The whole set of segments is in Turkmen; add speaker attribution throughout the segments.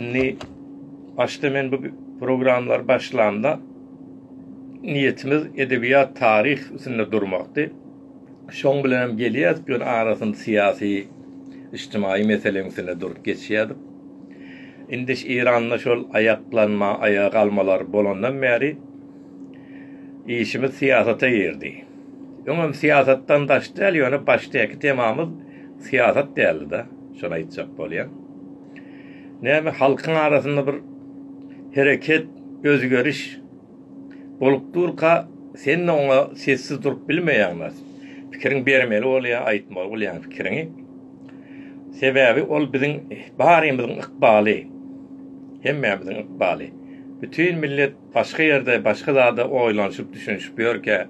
Speaker 1: Indi başda men bu programlary başlamda niýetimiz edebiýat, taryh üstünde durmakdy. Şoň bilen hem gelýärdik, ýöne arasynda syýasy, ijtimaýy meseleň üstünde durup geçýärdik. Indi şu Eýranda şol aýaklanma, aýaga galmalar bolandan bäri işimiz syýasata girdi. Öňem syýasatdan daş däl, ýöne başdaky temamyz syýasat däldi-de, şony aýtjak bolýan. Näme halkyň arasynda bir hereket, özgeriş bolup durka, sen-de oňa sessiz durup bilmeýäň wah. Pikiriňi bermeli bolýaň, aýtmaly bolýaň pikiriňi. Sebäbi ol biziň barymyzyň ykbaly. Hemmämiziň ykbaly. Bütin millet Başga ýerde başga zada oýlanyşyp düşünişip ýörkä,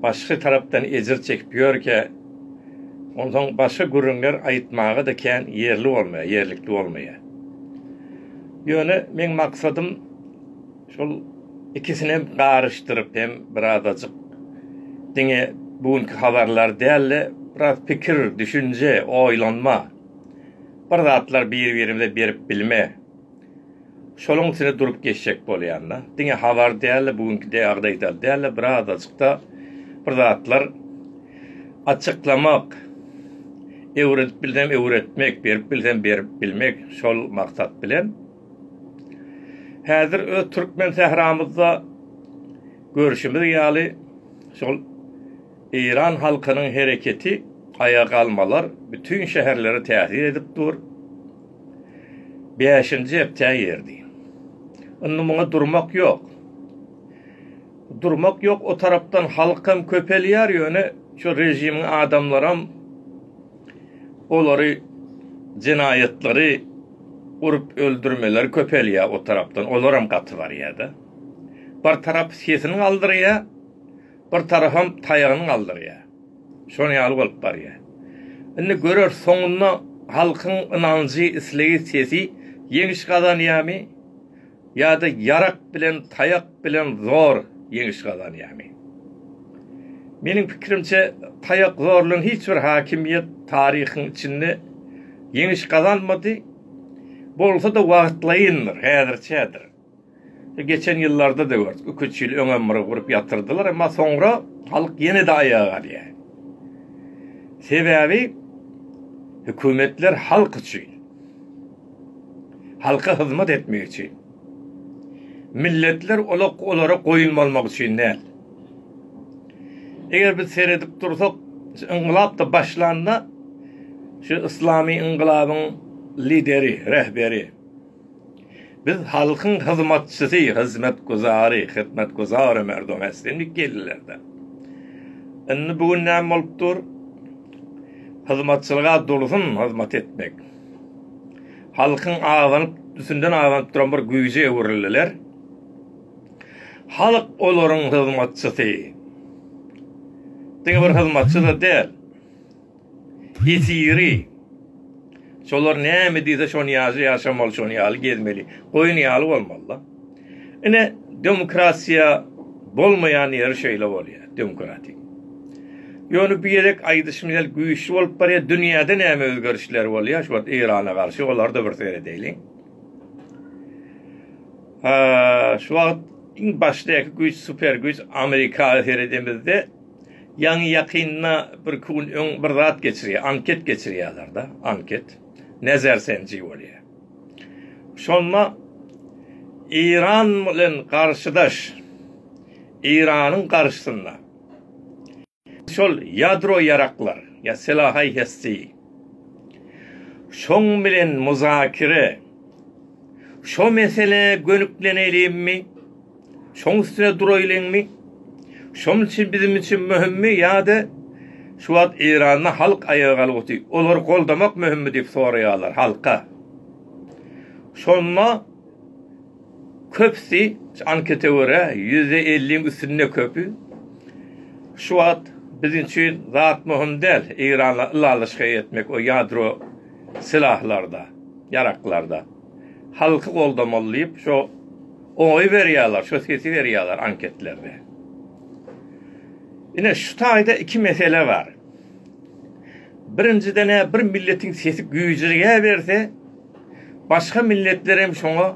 Speaker 1: başga tarapdan ejir çekip ýörkä, onsoň başga gürrüňler aýtmaga-da kän ýerli bolmaýar, ýerlikli bolmaýar. Ýöne meň maksadym şol ikisinem garyşdyryp hem birazajyk diňe bu günki habarlar däl-de, biraz pikir, düşünje, oýlanma, bir zatlar bir-birimize berip bilme, Şoluň üstüne durup geçjek bolýanda, diňe habar däl-de, bu günki dägdaýdal däl-de, bir azajyk-da bir zatlar açyklamak, öwredip bilsem öwretmek, berip bilsem berip bilmek, şol maksat bilen, häzir öz türkmen sähramyzda görşümiz ýaly, şol eýran halkynyň hereketi, aýagalmalar bütin şäherlere täsir edip dur. Bäşinji hepdä girdi. Indi muňa durmak ýok. Durmak ýok, o tarapdan halk hem köpelýär, ýöne şu režimiň adamlaram olary jenaýatlary urup öldürmeleri köpelýär o tarapdan, olaram gaty barýar-da. Bir tarap sesini galdyrýar, bir tarapam taýagyny galdyrýar. Şonuň ýaly bolup barýar. Indi göreris soňunda halkyň ynanjy, islegi, sesi ýeňiş gazanýarmy ýa-da ýarak bilen, taýak bilen zor ýeňiş gazanýarmy? Meniň pikirimçe, taýak zorlan hiç bir hakimiýet taryhyň içinde ýeňiş gazanmady. Bolsa-da wagtlaýyndyr, häzirçädir. Geçen ýyllarda-da gördük. Iki-üç ýyl öňem bir gurup ýatyrdylar, emma soňra halk ýene-de aýaga galýar. Sebäbi hökümetler halk üçin, halka hyzmat etmek üçin. Milletler olara goýun bolmak üçin däl. Eger biz seredip dursak, şu yngylap-da başlanda, şu yslamy yngylabyň lideri, rehberi, Biz halkyň hyzmatçysy, hyzmatguzary, hytmatguzary merdum islendik ýerlerde. Indi bu gün näme bolup dur? Hyzmatçylyga dursun hyzmat etmek. Halkyň azanyp, düsünden azanyp duran bir güýje öwrüldiler. Halk olaryň hyzmatçysy. Diňe bir hyzmatçy-da däl. Esiri. Şolar näme diýse şony ýaşa ýaşamaly şony ýaly gezmeli. Goýun ýaly bolmalyda. Ine demokratiýa bolmaýan ýeri şeýle bolýar demokratik. Ýöne bu ýerek aýdyşym ýaly güýçli bolup barýar dünýäde näme özgerişler bolýar şu wagt Eýrana garşy olary da bir seredeýliň. Şu wagt iň başdaky güýç super güýç Amerika seredemizde Ýaňy ýakynda birki gün öň bir zat geçirýär, anket geçirýärler-de, anket, nezer senji bolýar. Şonda Eýran bilen garşydaş, Eýranyň garşysynda şol ýadro ýaraklar, ýa silahaý hesti, şoň bilen muzakere, şo meselä gönükleneýlimmi? Şoň üstüne duraýlyňmy? Şonuň üçin biziň üçin möhümmi ýa-da şu wagt Eýranda halk aýaga galguty, olary goldamak möhümmi diýip soraýarlar halka. Şonda köpüsi, şu ankete görä, ýüzde elliň üstünde köpi şu wagt biziň üçin zat möhüm däl, Eýranla ylalaşyk etmek o ýadro silahlarda, ýaraklarda. halky goldamaly diýip şo oýy berýärler, şo sesi berýärler anketlerde. Ine şu taýda iki mesele bar. Birinjiden ä bir milletiň sesi güýjürýä berse, başga milletler hem şoňa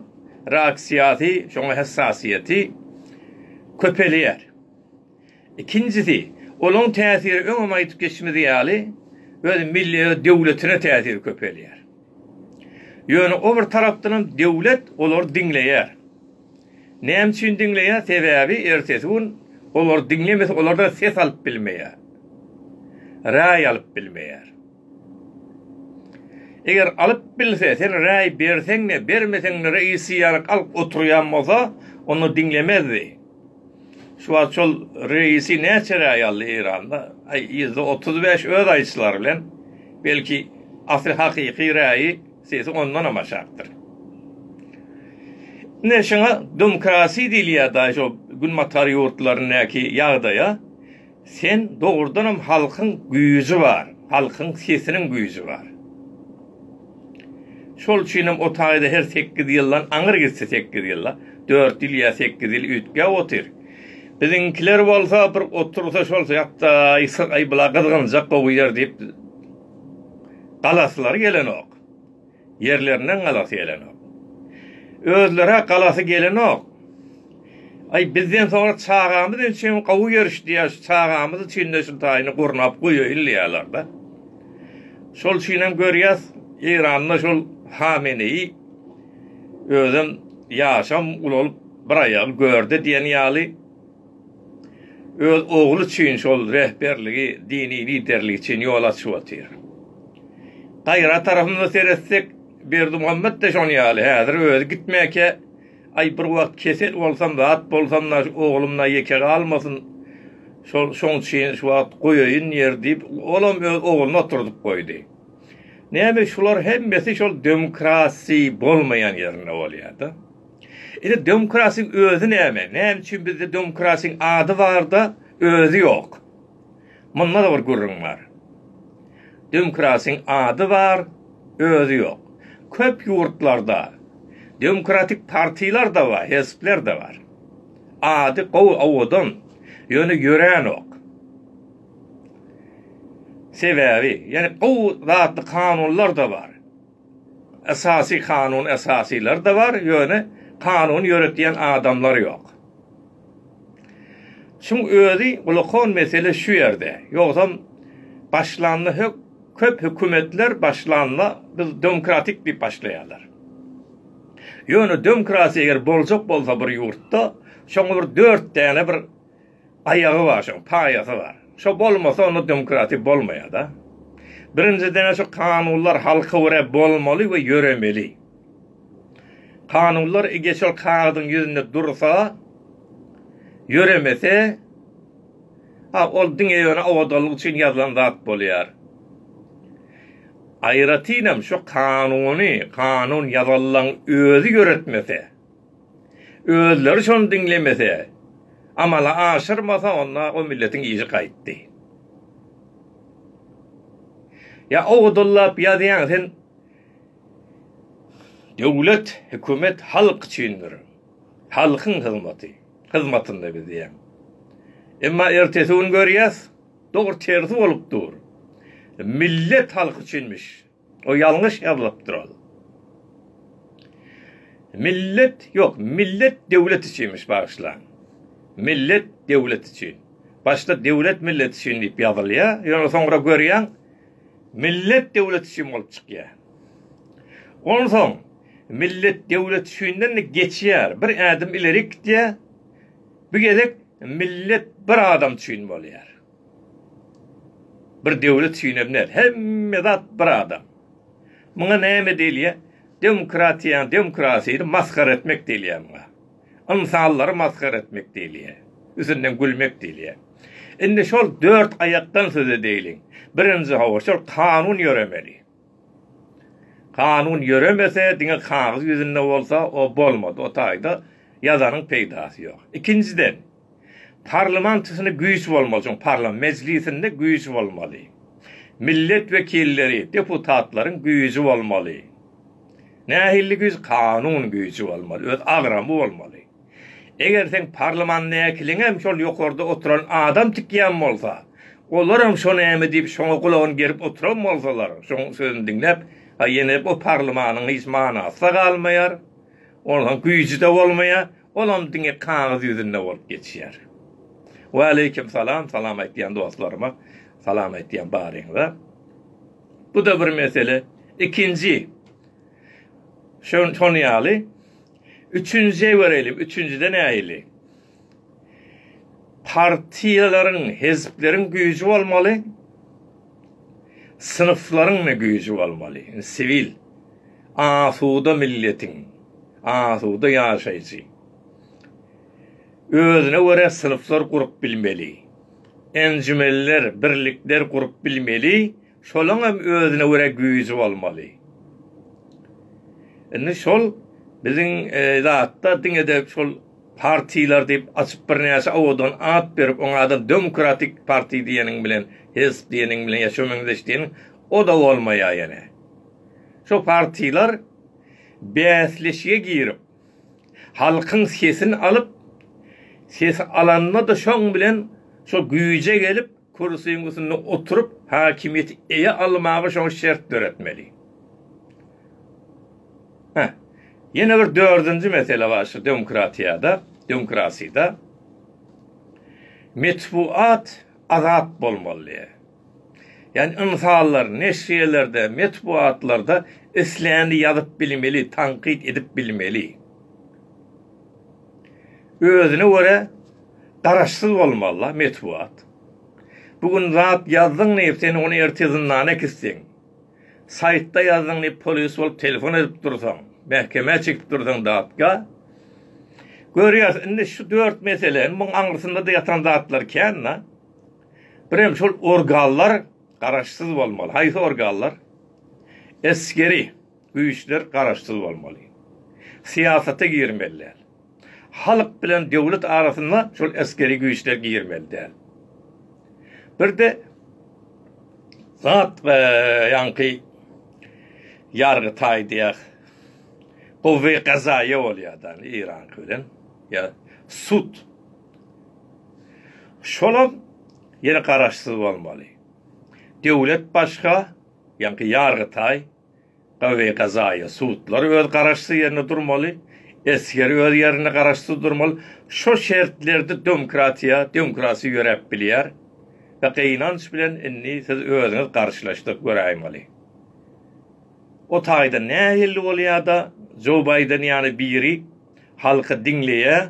Speaker 1: reaksiýasy, şoňa hessasiýeti köpelýär. Ikinjisi, olaň täsiri öňem aýdyp geçmediz ýaly, öz milli öz döwletine täsiri köpelýär. Ýöne o bir tarapdanam döwlet olary diňleýär. Näme üçin diňleýär? Sebäbi ertesi gün olary diňlemese olardan ses alyp bilmeýär. Raý alyp bilmeýär. Eger alyp bilse, sen raý berseň-de, bermeseň-de reisi ýaryk alyp oturýan bolsa, onda diňlemezdi. Şu wagt şol reisi näçe raý aldy Eýranda? Aý, ýüzde otuz bäş öz aýyşlary bilen, belki, asly hakyky raýy sesi ondanam aşakdyr. Ine, şuňa domkrasiýa diýilýär-da, şo günbatar ýurtlaryndaky ýagdaýa. Sen dogrudanam halkyň güýji bar, halkyň sesiniň güýji bar. Şol üçinem o taýda her sekiz ýyldan aňyr gitse sekiz ýyla, dört ýyl ýa sekiz ýyl üýtgäp otyr. Biziňkiler bolsa bir otursa şol ýatdaý sygaý bula gyzgynjak gowy ýer diýip galasylary gelenok. Ýerlerinden galasy gelenok. Özleri-ä galasy gelenok. Aý, bizden soňra çagamyz ençem gowy ýerişdi-ä, şu çagamyz üçin-de şu taýyny gurnap goýaýyn diýýärler-de. Şol üçinem görýäs, Eýranda şol Hameneýi özem ýaşam ulalyp bir aýagy gördi diýen ýaly, Öz ogly üçin şol rehberligi, dini liderligi üçin ýol açyp otyr. Gaýra tarapymyza seretsek, Berdimuhammet-de şonuň ýaly, häzir özi gitmäkä, aý, bir wagt kesel bolsam, zat bolsam-da, şu oglum-da ýeke galmasyn, şol, şoň üçin şu wagt goýaýyn ýer diýip, olam öz ogluny oturdyp goýdy. Näme, şular hemmesi şol demokratiýa bolmaýan ýerinde bolýar-da. Indi demokrasiň özi näme? Näme üçin bizde demokrasiň ady barda özi ýok? Munda-da bir gürrüň bar. Demokrasiň ady bar, özi ýok. Köp ýurtlarda demokratik partiýlar da bar, hezpler de bar. Ady gowy, owadan, ýöne ýörenok. Sebäbi, ýöne gowy zatly kanunlar da bar. Esasy kanun esasylar-da bar, ýöne kanuny ýöretýän adamlar ýok. Şuň özi gulakon mesele şu ýerde. Ýogsam başlanda hök köp hökümetler başlanda biz demokratik diýip başlaýarlar. Ýöne demokratiýa eger boljak bolsa bir ýurtda, şoňa bir dört däne bir Aýagy bar şoň, paýasy bar. Şo bolmasa onda demokratiýa bolmaýada. Birinjidene şu kanunlar halka görä bolmaly we ýöremeli. Kanunlar ege şol kagyzyň ýüzünde dursa, ýöremese, a ol diňe ýöne owadanlyk üçin ýazylan zat bolýar. Aýratynam şo kanuny kanun ýazyllaň özi ýöretmese, Özleri şony diňlemese, amala aşyrmasa onda o milletiň işi gaýtdy. Ýa owadanlap ýazýaň sen Döwlet, hökümet halk üçindir. Halkyň hyzmaty, hyzmatynda biz diýýäň. Emma ertesi gün görýäs, dogry tersi bolup dur. Millet halk üçinmiş. O ýalňyş ýazylypdyr ol. Millet ýok, millet döwlet üçinmiş bagyşlaň. Millet döwlet üçin. Başda döwlet millet üçin diýip ýazylýar, ýöne soňra görýäň millet döwlet üçin bolup çykýar. Onsoň millet döwlet üçinden geçýär, bir ädim ileri gitýär, bu gezek millet bir adam üçin bolýar. Bir döwlet süýnelmez. Hemme zat bir adam. Muňa näme diýilýär? Demokratiýa, demokrasýa masgara etmek diýilýär muňa. Ynsanlary masgara etmek diýilýär. Üstünden gülmek diýilýär. Indi şol dört aýakdan söz edeýliň. Birinji hawa, şol kanun ýöremeli. Kanun ýöremese, diňe kagyz ýüzünde bolsa, o bolmaz. O taýda ýazanyň peýdasy ýok. Ikinjiden. Parlamantysynda güýç bolmaly, çün parlam mejlisinde güýç bolmaly. Millet wekilleri, deputatlaryň güýji bolmaly. Nähilli güýç? Kanun güýji bolmaly, öz agramy bolmaly. Eger seň parlamandäkiliňem şol ýokarda oturan adam tikýän bolsa, olaram şo näme diýip şoňa gulagyny gerip oturan bolsalar, şoň sözüni diňläp, a ýene o parlamanyň hiç manasy-da galmaýar, onuň güýji-de bolmaýar. Olam diňe kagyz ýüzünde bolup geçýär. Waleýkim salam, salam aýtýan dostlaryma salam aýtýan baryňyza. Bu-da bir mesele. Ikinji, şo-şony ýaly, üçünjije göreýlim, üçünjide nähili? Partiýalaryň, hezpleriň güýji bolmaly, synpslaryňda güýji bolmaly. Indi siwil, asuda milletiň, asuda ýaşaýjy özüne görä synplar gurup bilmeli, enjümenler, birlikler gurup bilmeli, şolaň hem özüne görä güýji bolmaly. Indi şol biziň zatda diňe-de şol partiýalar diýip açyp birnäçe owadan at berip oňa-da demokratik partiýa diýeniň bilen Hes diýeniň bilen ýa şo meňzeş diýeniň o-da bolmaýar ýene. Şo partiýlar bäsleşige girip, halkyň sesini alyp, sesi alanda-da şoň bilen şo güýje gelip, kürsüň üstünde oturyp, häkimiýeti eýe almaga şoňa şert döretmeli. Hä, ýene bir dördünji mesele bar şu demokratiýada, demokrasida. Metbugat azat bolmaly. Ýagny ynsanlar neşirelerde, metbugatlarda islänini ýazyp bilmeli, tankyt edip bilmeli. Özüne görä garaşsyz bolmaly-la metbugat. Bu gün zat ýazdyň diýip, sen ony erte zyndana kisseň. Saýtda ýazdyň diýip polis bolup telefon edip dursaň, mähkemä çekip dursaň datga. Görýäs indi şu dört mesele, indi muň aňrysynda-da ýatan zatlar kän-da. Birem şol organlar garaşsyz bolmaly. Haýsy organlar? Esgeri güýçler garaşsyz bolmaly. Syýasata girmeli däl. Halk bilen döwlet arasyna şol esgeri güýçler girmeli däl. Birde zat we ýaňky ýargy taý diýýär. Gowy gazaýa bolýar da Iran bilen. Ýa sud. Şolam ýene garaşsyz bolmaly. Döwlet başga, ýaňky ýargy taý. Gawy-gazaýa sudlar öz garaşsyz ýerinde durmaly, esger öz ýerinde garaşsyz durmaly. Şo şertlerde domkratiýa, demokrasiýa ýöräp bilýär we gynanç bilen indi siz özüňiz garşylaşdyryp göräýmeli. O taýdan nähilli bolýa-da, Joe Baýden ýaly biri halky diňleýä,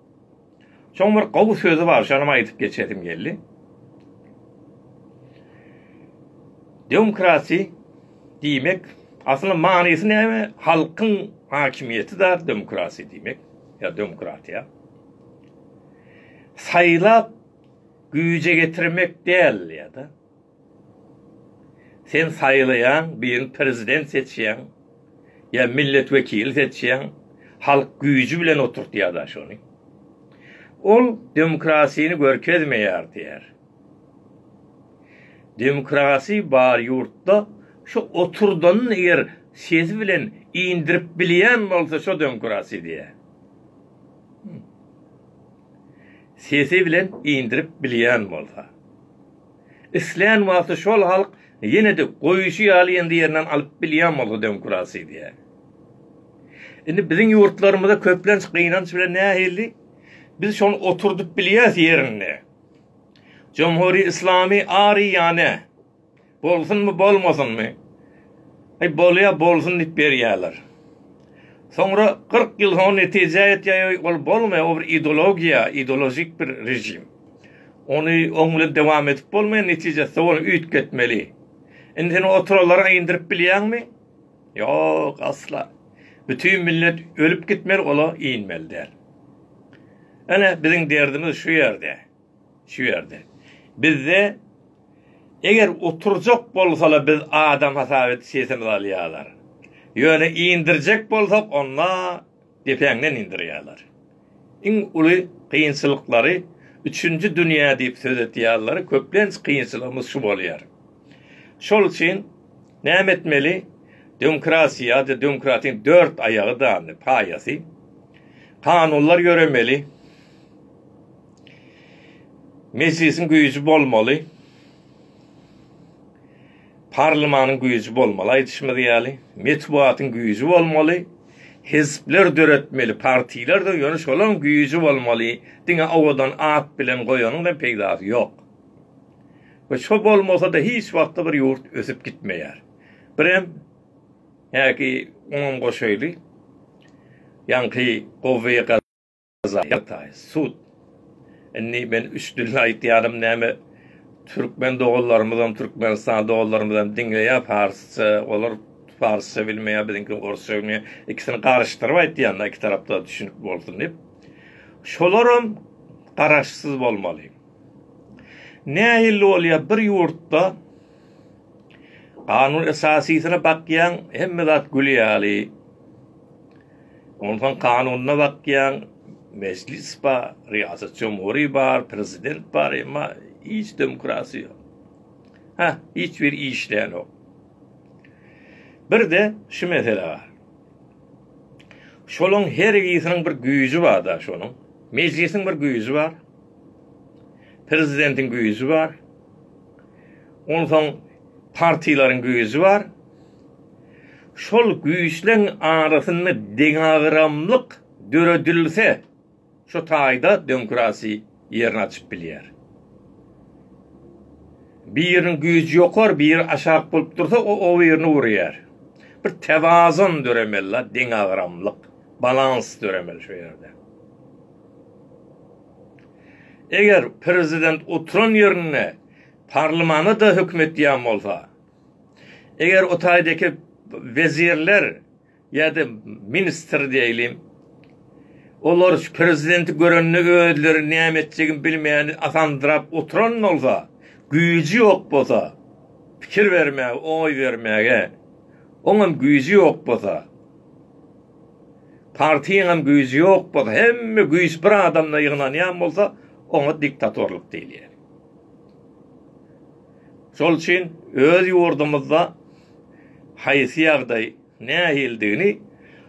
Speaker 1: Şoň bir gowy sözi bar, şonam aýdyp geçesim geldi. Demokrasi diýmek, aslynda manysy näme? Halkyň hakimiýeti zat demokrasi diýmek, ýa demokratiýa. Saýlap güýje getirmek däl ýa-da Sen saýlaýaň, birini prezident seçýäň, ýa millet wekili seçýäň, halk güýji bilen oturtýar-da şony. Ol demokrasini görkezmeýär diýer. Demokrasi bar ýurtda şo oturdanyny eger sesi bilen indirip bilýän bolsa şo demokrasi diýer. sesi bilen indirip bilýän bolsa. Islän wagty şol halk ýene-de goýuşy ýaly ýene-de ýerinden alyp bilýän bolsa demokrasiýa. Indi biziň ýurtlarymyzda köplenç gynanç bilen nähili biz şony oturdyp bilýäs ýerinde. Jomhuri-islami ari ýane. Bolsunmy, bolmasynmy? Aý, bolýa, bolsun diýip berýärler. Soňra kyrk ýyl soň netije ýetýär, ýoý, ol bolmaýar, o bir ideologiýa, ideolojik bir režim. Ony oň bilen dowam edip bolmaýar, netijesi ony üýtgetmeli. Indi sen oturanlary aýyndyryp bilýäňmi? Ýok, asla. Bütin millet ölüp gitmeli, ola inmeli däl. Ine, biziň derdimiz şu ýerde. Şu ýerde. Bizde Eger oturjak bolsala biz adam hasap edip sesimizi alýalar. Ýöne indirjek bolsak onda depäňden indirýaler. Iň uly kynçylyklary üçünji dünýä diýip söz etýaleri köplenç kynçylygymyz şu bolýar. Şol üçin näme etmeli dömkrasiýa ýa-da dömkratiň dört aýagy dany paýasy kanunlar ýöremeli. Mejlisiň güýji bolmaly. Parlymanyň güýji bolmaly aýdyşymyz ýaly. Metbugatyň güýji bolmaly. Hezpler döretmeli partilerdir ýöne şolaň güýji bolmaly. Diňe owadan at bilen goýanyňda peýdasy ýok. We şo bolmasada hiç wagtda bir ýurt ösüp gitmeýär. Birem häki oňam goşaýly. Ýaňky gowy. Gazaýataý, sud. Indi men üç dilde aýtýarym, näme türkmen doganlarymyzam, türkmenistan doganlarymyzam diňleýär parsça, olar parsça bilmeýär, biziňki orsça bilmeýär, ikisini garyşdyryp aýtýan-da, iki tarapda düşünip bolsun diýip. Şolaram garaşsyz bolmaly. Nähili bolýar bir ýurtda kanun esasysyna bakýaň, hemme zat gül ýaly, Onsoň kanunda bakýaň, mejlis bar, riýasat jumhury bar, prezident bar, emma hiç demokratiýa ýok. Hä, hiç biri işlänok. Bir-de şu mesele bar. Şolaryň her ikisiniň bir güýji bar-da şonuň. Mejlisiň bir güýji bar. Prezidentiň güýji bar. Onsoň partiýalaryň güýji bar. Şol güýçleň arasynda deňagramlyk döredilse, şu taýda demokrasiýa ýerini açyp bilýär. Biriniň güýji ýokary, biri aşak bolup dursa, o o birini urýar. Bir tewazun döremeli-la, deňagramlyk, balans döremeli şu ýerde. Eger prezident oturan ýerinde parlmana-da höküm etýän bolsa, Eger o taýdaky wezirler ýa-da ministr diýeli, olar şu prezidenti görende özleri näme etjegini bilmän asandyrap oturan bolsa, güýji ýok bolsa, pikir bermäge, oý bermäge oňam güýji ýok bolsa, partiýaňam güýji ýok bolsa, hemme güýç bir adamda ýygnanýan bolsa, oňa diktatorlyk diýilýär. Şol üçin öz ýurdumyzda haýsy ýagdaý, nähilidigini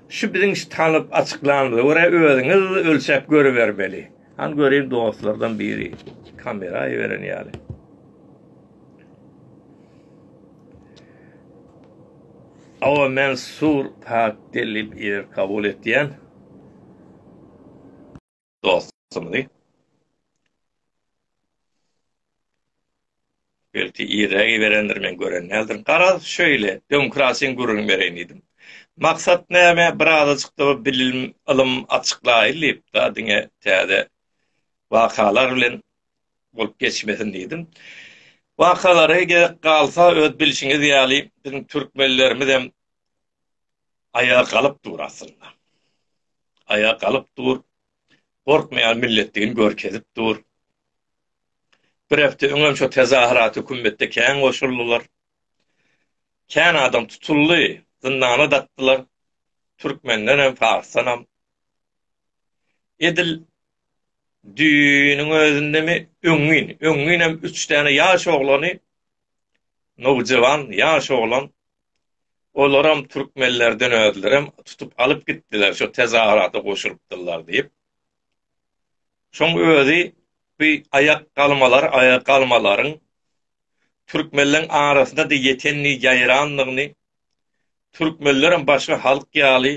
Speaker 1: şu biziň şu tanyp açyklanymyza görä özüňiz ölçäp görübermeli. Hany göreýin dostlardan biri kamera aýyberen ýaly. Awa men sur pak dellip ir kabul etýän. dostumyzy. Belki iregi berendir, men gören däldirin. Garaz, şöyle, demokrasiýaň gürrüňini bereýin diýdim. Maksat näme? Birazajyk-da bilim, ylym açyklaýyn diýip-de, diňe täze wakalar bilen bolup geçmesin diýdim. Wakalary gerek galsa, öz bilşiňiz ýaly, biziň türkmenlerimiz hem aýaga galyp dur aslynda. aýa galyp dur, gorkmaýan milletdigini görkezip dur. Bir hepde öňem şo tezahyrat hökümetde kän goşuldylar. Kän adam tutuldy, zyndana dakdylar. Türkmendenem, farsdanam. Edil düýnüň özündemi, öňňin, öňňinem üç däne ýaş oglany, nowjawan, ýaş oglan Olaram türkmenlerden özlerem tutup alyp gitdiler, şo tezawarata goşulypdyrlar diýip. Şoň özi bu aýak galmalar, aýak galmalaryň türkmenleriň arasynda-da ýetenini, ýaýrandygyny, türkmenlerem başga halk ýaly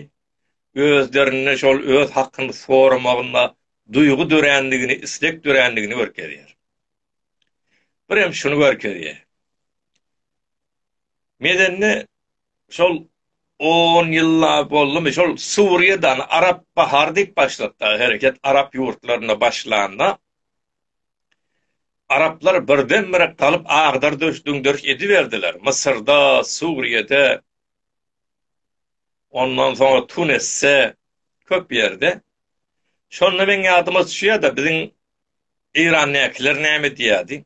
Speaker 1: özlerinde şol öz hakyny soramagynda duýgy dörändigini, isleg dörändigini görkezýär. Birem şuny görkezýär. Medeni şol on ýylla boldumy, şol Suriýadan Arap bahary diýip başlapda hereket Arap ýurtlarynda başlanda, Araplar birdenbire galyp agdar-döş, düňderiş ediberdiler. Mysyrda, Suriýede, ondan soňra Tunisde, köp ýerde. Şonda meň ýadyma düşýärde biziň Eýrandäkiler näme diýýärdi?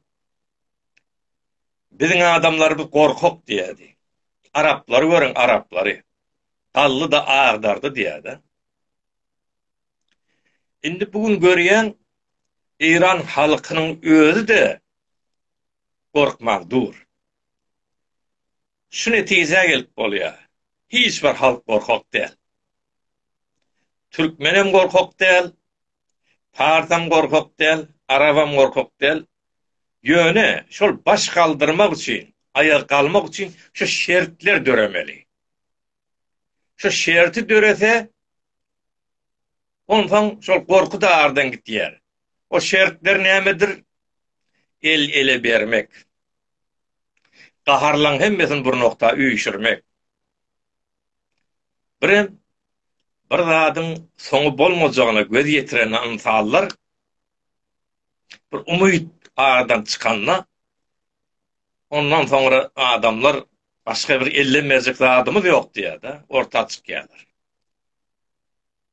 Speaker 1: Biziň adamlarymyz gorkak diýýärdi. Araplary görüň, araplary. Gally-da agdardy diýýär-dä. Indi bu gün görýän Eýran halkynyň özi-de gorkman dur. Şu netijä gelip bolýar. Hiç bir halk gorkak däl. Türkmenem gorkak däl, Parsam gorkak däl, arabam gorkak däl. Ýöne şol baş galdyrmak üçin, aýak galmak üçin şu şertler döremeli. Şu şerti dörese, onsoň şol gorky-da aradan gitýär. O şertler nämedir? El ele bermek. Gaharlaň hemmesini bir nokta üýşürmek. Birem bir zadyň soňy bolmajagyna göz ýetiren ynsanlar bir umyt aradan çykanda, ondan soňra adamlar başga bir elden berjek zadymyz ýok diýýär-de, orta çykýarlar.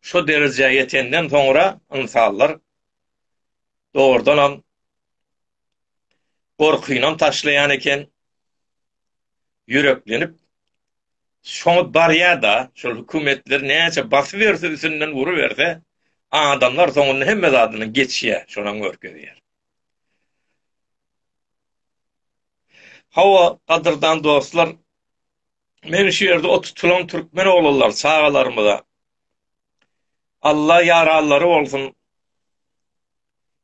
Speaker 1: Şu derejä ýetenden soňra ynsanlar dogrudanam gorkynam taşlaýan eken, ýüreklenip şoňa barýar-da, şol hökümetler näçe basyp ýörse, üstünden uruberse, adamlar soňunda hemme zadyndan geçýär, şonam görkezýär. Hawa, gadyrdan dostlar, men şu ýerde o tutulan türkmen oglanlar, çagalarymyza Alla ýaralary bolsun,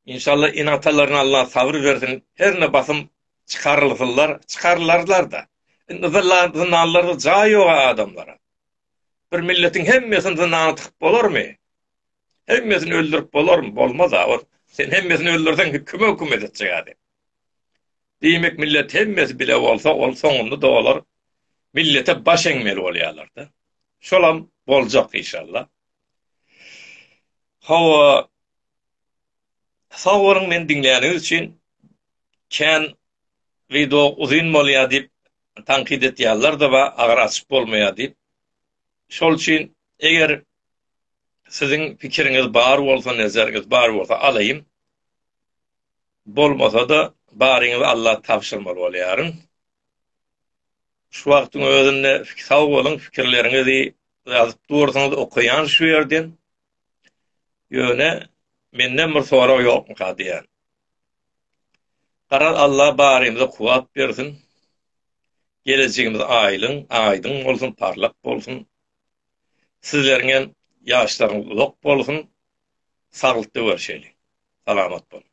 Speaker 1: inşalla ene-atalaryna Alla sabyr bersin, herne basym çykarylsynlar, çykarylarlar-da, Indi zyndan zyndanlarda jaý ýoga adamlara. Bir milletiň hemmesini zyndana tykyp bolarmy? Hemmesini öldürip bolarmy? Bolmaz-a. Sen hemmesini öldürseň kime hökümet etjek adam? Diýmek millet hemmesi bile bolsa ol soňunda da olar millete baş eňmeli bolýarlar-da. Şolam boljak inşallah. Hawa Sag boluň meni diňläniňiz üçin kän wideo uzyn bolýar diýip tankyt etýärlerdi we agyr açyp bolmaýar diýip şol üçin eger siziň pikiriňiz bar bolsa nezeriňiz bar bolsa alaýyn bolmasa-da baryňyzy Alla tabşyrmaly bolýaryn şu wagtyň özünde sag boluň pikirleriňizi ýazyp dursaňyz okaýan şu ýerden Ýöne menden bir sorag ýokmyka diýýän. Garaz Alla barymyza kuwwat bersin. Gelejegimiz aýlyň, aýdyň bolsun, parlak bolsun. Sizleriň hem ýaşlaryňyz uzak bolsun. Saglykda görşeliň. Salamat boluň.